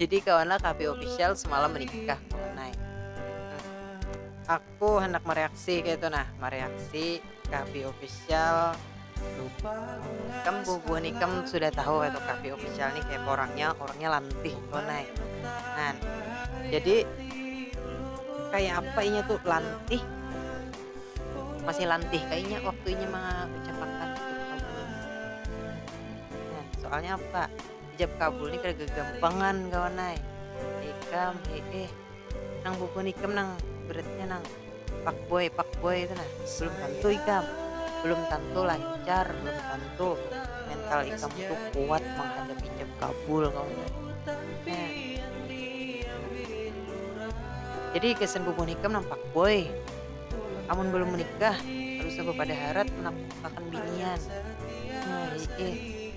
Jadi kawanlah KP official semalam menikah tunai. Aku hendak mereaksi kayak itu nah, mereaksi KP official. Kam bubuhan ikam sudah tahu itu KP official nih kayak orangnya, orangnya lantih tunai. Nah, jadi kayak apa inya tuh lantih masih lantih kayaknya waktu inya mengucapkan nah, soalnya apa Hijab kabul ni kada gagampangan kawan ai. Ikam hee. Nang bubuhan ikam nang beratnya nang fuckboy fuckboy tu nah. Belum tantu ikam. Belum tantu lancar, belum tantu mental ikam tu kuat manghadapi hijab kabul kawan ai. Jadi gasan bubuhan ikam nang fuckboy, amun balum menikah kada usah bapada harat manaklukakan binian. Hee.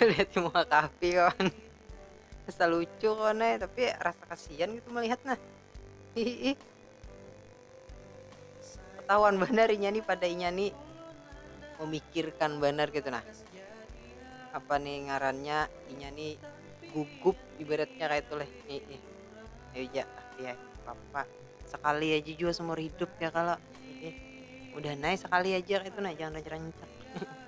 lihat muka kapi kawan rasa lucu kawan eh. tapi rasa kasihan gitu melihat nah hihi ketahuan benar inya nih pada inya nih memikirkan benar gitu nah apa nih ngarannya inya nih gugup ibaratnya kayak itu leh hihi ayo ya ya papa sekali aja juga seumur hidup ya kalau hihi udah naik sekali aja kayak itu nah jangan rancak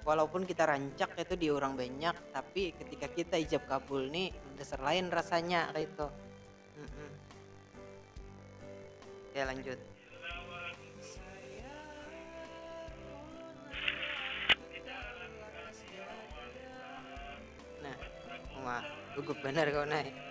Walaupun kita rancak kayatu di urang banyak tapi ketika kita ijab kabul ni dasar lain rasanya kayatu. Oke lanjut. Nah, wah gugup banar kawan ai.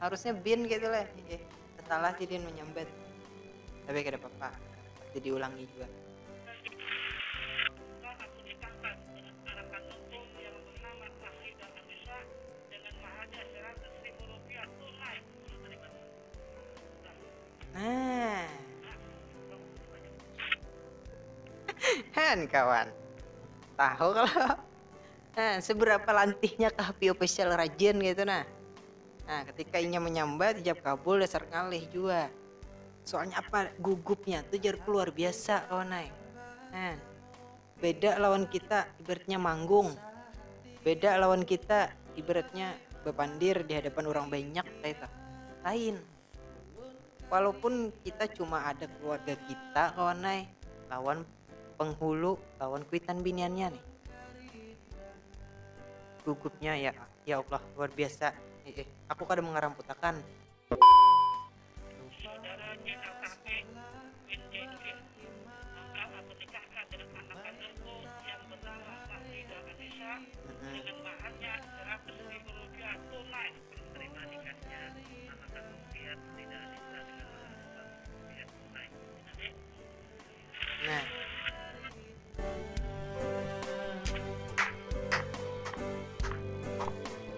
harusnya bin gitu lah eh salah sih dia menyambat tapi kada apa-apa pasti diulangi juga nah kan kawan tahu kalau Nah, seberapa lantihnya kah Pi Official rajin gitu nah. Nah, ketika inya menyambat, jawab kabul dasar ngalih jua. Soalnya apa gugupnya tuh jar luar biasa kawan ay. Nah, beda lawan kita ibaratnya manggung. Beda lawan kita ibaratnya bepandir di hadapan orang banyak kayak Lain. walaupun kita cuma ada keluarga kita kawan nai lawan penghulu lawan kuitan biniannya nih gugupnya ya ya Allah luar biasa eh, aku kada mengaramputakan Diterima nikahnya sama kakang pian tidak ada ulah dengan orang tua kakang pian Hai.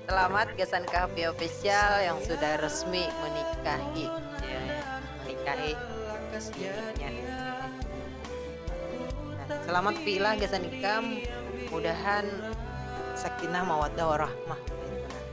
Selamat gasan kahapia official yang sudah resmi menikahi menikahi bininya selamat pilah gasan ikam mudahan sakinah mawaddah warahmah.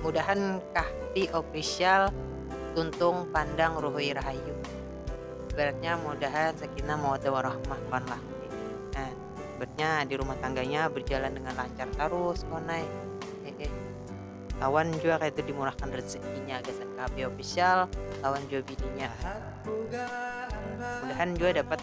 Mudahan Kahfi Official tuntung pandang ruhui rahayu ibaratnya mudahan sakinah mawadah warahmah wan Lahfi nah ibaratnya dirumah tangganya berjalan dengan lancar tarus wan ai hehe lawan jua kaitu dimurahkan rezekinya gasan Kahfi Official lawan jua bininya mudahan jua dapat.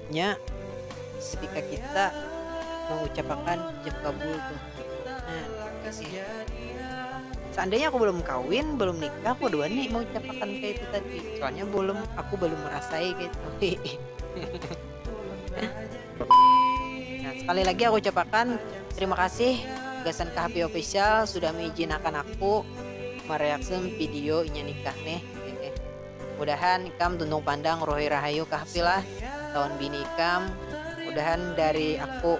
Nya sedikah kita mengucapakan ijab kabul tu. Nah, seandainya aku belum kawin, belum nikah, aku dua nih mengucapakan kayak itu tadi. Soalnya belum, aku belum merasai kayak itu. nah, sekali lagi aku ucapakan terima kasih Gasan Kahpi Official sudah mengizinakan aku mereaksi video inya nikah nih. Mudahan ikam tuntung pandang Rohi Rahayu Kahfi lah lawan bini ikam mudahan dari aku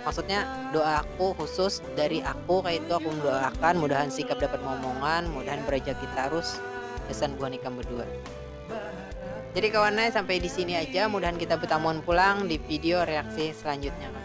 maksudnya doa aku khusus dari aku kayak itu aku mendoakan mudahan sikap dapat momongan mudahan berajaki tarus gasan buhan ikam berdua jadi kawannya sampai di sini aja mudahan kita bertamuan pulang di video reaksi selanjutnya kan